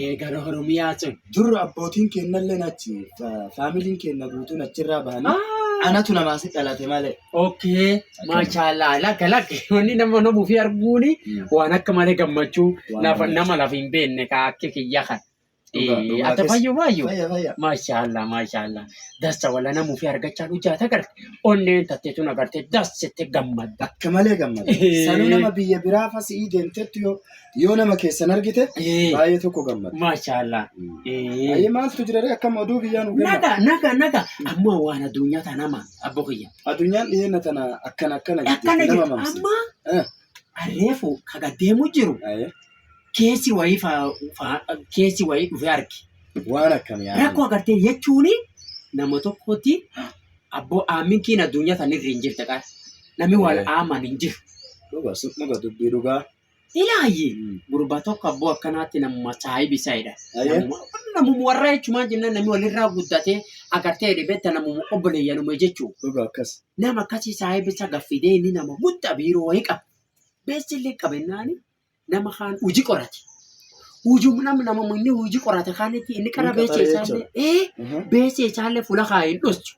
Ee gara Oromiyaa sun. Dur abbootiin keennallee achi faamiliin keenna guutuun achirraa bahanii anatu namaasi dhalate malee. Okay, maashaallah lakka lakki wanni nama nama ofii arguuni waan akka malee gammachuu Waan lafa malee. nama lafa hin beekne ka akka kiyya kan. Dhugaa- Eh, dhugaa Ata keessa. fayyu fayyu. Fayya fayya. Maashaallah maashaallah dassa wala nama ofii argachaa dhujaata agarte onneen tattee tun agarte dassitti gammadda. Akka malee gammada. Sanuu nama biyya biraa fasii deemtetti yoo Yoo nama keessan argite Ee. baay'ee tokko gammada. Maashaallah. Baay'ee maaltu jira ree akkam oduu biyyaa nu kenna. Naga naga naga amma waan addunyaa tana amma abbo kiyya. Addunyaan dhiyeenya tana akkana akkana Akkana jettee nama jirtu mamsi. amma Eh, reefu kaga deemu jiru aye. keessi wayii faa- faa- keessi wayii dhufee arge. Waan akkam yaa. Rakkoo agartee jechuun nama tokkotti abboo aaminkiin addunyaa tanirra hin jirte qara. Namni wal Ee. aaman hin jiru. Dhuga dhuga dubbii dhugaa. Ilaayi gurba tokko abboo akkanaatti namuma saahibi saayidha. Namuma warra jechumaan jennaan namni walirraa guddatee agartee jedhe beekta namuma obboleeyyanuma jechuudha. Dhugaa akkas. Nama akkasii saahibi isa gaffidee inni nama guddaa biiroo wayii qaba. Beessi illee qabennaani nama kaan hojii qorate. Hujum nam nama inni hojii qorate kaanitti inni qara Inni beessa qaxaree isaallee ee beessa isaallee fuula kaa hin dhossu.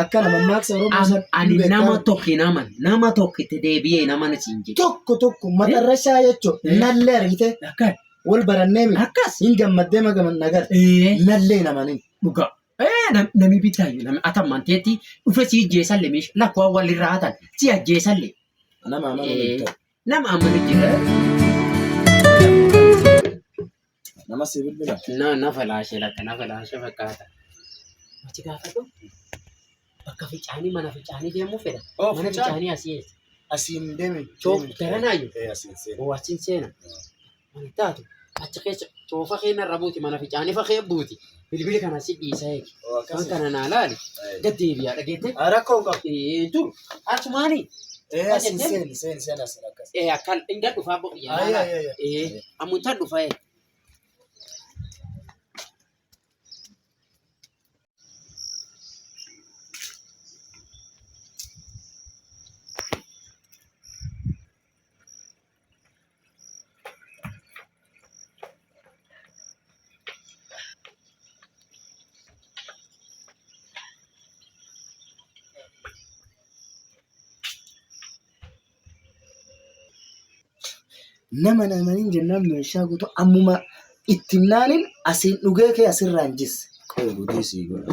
Akka nama maaksa Oromoo Am- sana ani beekaa nama miti. tokko hin aman nama tokko itti deebi'ee nama na siin jedhe tokko tokko matarra isaa jechuun Eh. nallee argite akka wal barannee miti. akkas Hin gammaddee magaman nagar. ee Nallee namanin. dhugaa ee nam- nami bitaayu nami atammanteetti dhufe si ijjeesalle miisha lakkoo walirraa hatan si ajjeesalle Nama amanuu Eh. hin ta'u. Nama amma ni jira. Nama si bilbila. Na na falaashee latta na falaashee fakkaata. Ati gaafadhu. Bakka ficaanii mana ficaanii deemuu fedha. Oh, Mana ficaan. ficaanii asii eessa? Asiin deemi. Choo garanaayyuu. Eh, asiin seena. Oo achiin seena. Mantaatu achi keessa toofa keenya irra buuti mana ficaanifa kee buuti bilbili kana si dhiisa eegi. Oo, akkas. Waan kana naa laali Ee. gad deebi'aa dhageette. Ah, Rakkoo hin qabu. Ee, Dur asumaani Ee, Waan sin jetteen? seeni, seeni, seeni asin akkas. ee, akkan inga dhufaa bo- yaa Ayi, laala. ayi, ayi. Ee, ammuntaan dhufa ee. nama namaniin jennaan meeshaa guutuu ammuma itti naaniin asiin dhugee kee asirraan jisse. Qooduu dhiisii godha.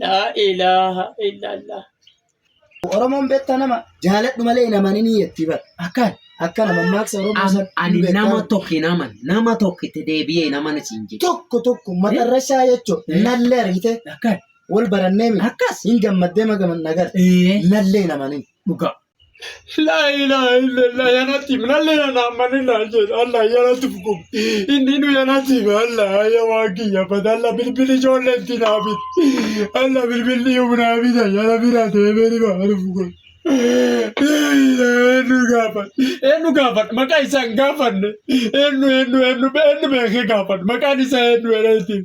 Laa ilaaha illallah. Oromoon beektaa nama jaaladhu malee hin amanin jettii bar. Akkaan. Akka nama maaksa Oromoo Am- san ani beektaa nama bar. tokko hin aman nama tokko itti deebi'ee hin amana siin jedhe Tokko tokko matarra isaa jechuun Eh. nallee argitee akkan wal barannee miti. akkas Hin gammaddee magaman nagar. ee Nallee hin amanin. dhugaa Laa ilaaha illallah ya nasiib nallee na naammanni naa jedha Allah ya nasiib kun inni nu ya nasiib Allah ya waan kiyya bada Allah bilbili ijoollee itti naa bit Allah bilbilli yoom naa bita ya rabbi naa deemee ni ba'a dhufu kun. Laa ilaaha eenyu gaafan eenyu gaafan maqaa isaa hin gaafanne eenyu eenyu eenyu eenyu beekee gaafan maqaan isaa eenyu jedhaniitiin.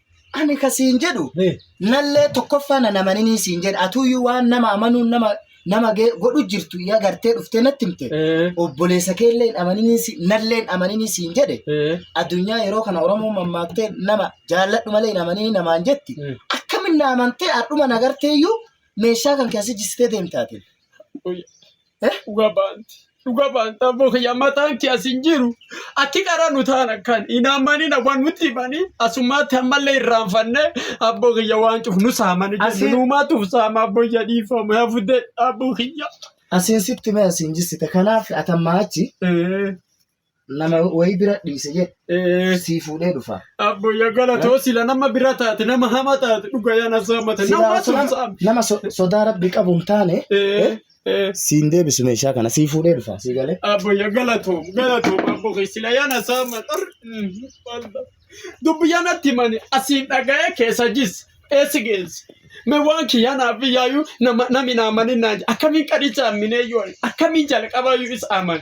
Ani ka siin jedhu Eh. nallee tokkoffaa na namaninii siin jedha atuuyyuu waan nama amanuun nama nama gee- godhu jirtu yaa gartee dhuftee natti himte Eh. obboleessa keelleen amaninii si- nalleen amaninii siin jedhe Eh. addunyaa yeroo kana oromoo mammaaktee nama jaalladhu malee hin amaninii namaan jetti Eh. akkamin na amantee adhuma nagarteeyyuu meeshaa kan keessa jistee deemtaate Uy. Dhuga baanti. Dhuga baanta abboo kiyya mataan kee as hin jiru. Akki qara nu taana kan hin ammanina waan nutti himanii asummaatti ammallee irraanfanne abboo kiyya waan cuf nu saamani jennu Asiin- nuumaatuuf saama abboo kiyya dhiifama yaa fudde abboo kiyya. Asiin sitti mee asiin jissita. Kanaaf atammaa achi Eh, nama wayii bira dhiise jedhe Eh, sii fuudhee dhufa. Abbo ya galatoo sila nama bira taate nama hama taate dhuga yaa na saamate Silaa nama osoo nama- saamte. nama so- sodaa rabbi qabu hin taane Eh, eh. siin deebisu meeshaa kana sii fuudhee dhufa sii galee. Abbo ya galatoo galatoo abbo kee sila yaa na saama dhar. Mm, walda. Dubbi yaa natti mani asiin dhaga'ee keessa jis eessi geessi. Me waan kiyyaa naaf iyyaayu nama nami naa mani naa akkamiin qadhicha amminee yoo akkamiin jalqabaayu is aman.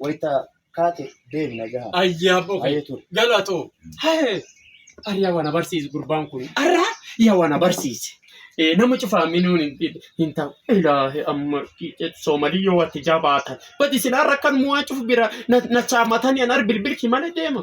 Wayita kaate deebina gaha. Ayyaaf oke. Baay'ee ture. Galatoo. Hee. Ariyaa wana barsiise gurbaan kun. Arra yaa wana barsiise. Eh, nama cufaa minuun hin dhib- hin ta'u. Ilaahi amma soomalii yoo watti jabaatan. Bati isin har'a kan mu'aa cufu bira na na chaamatanii an ar bilbilki malee deema.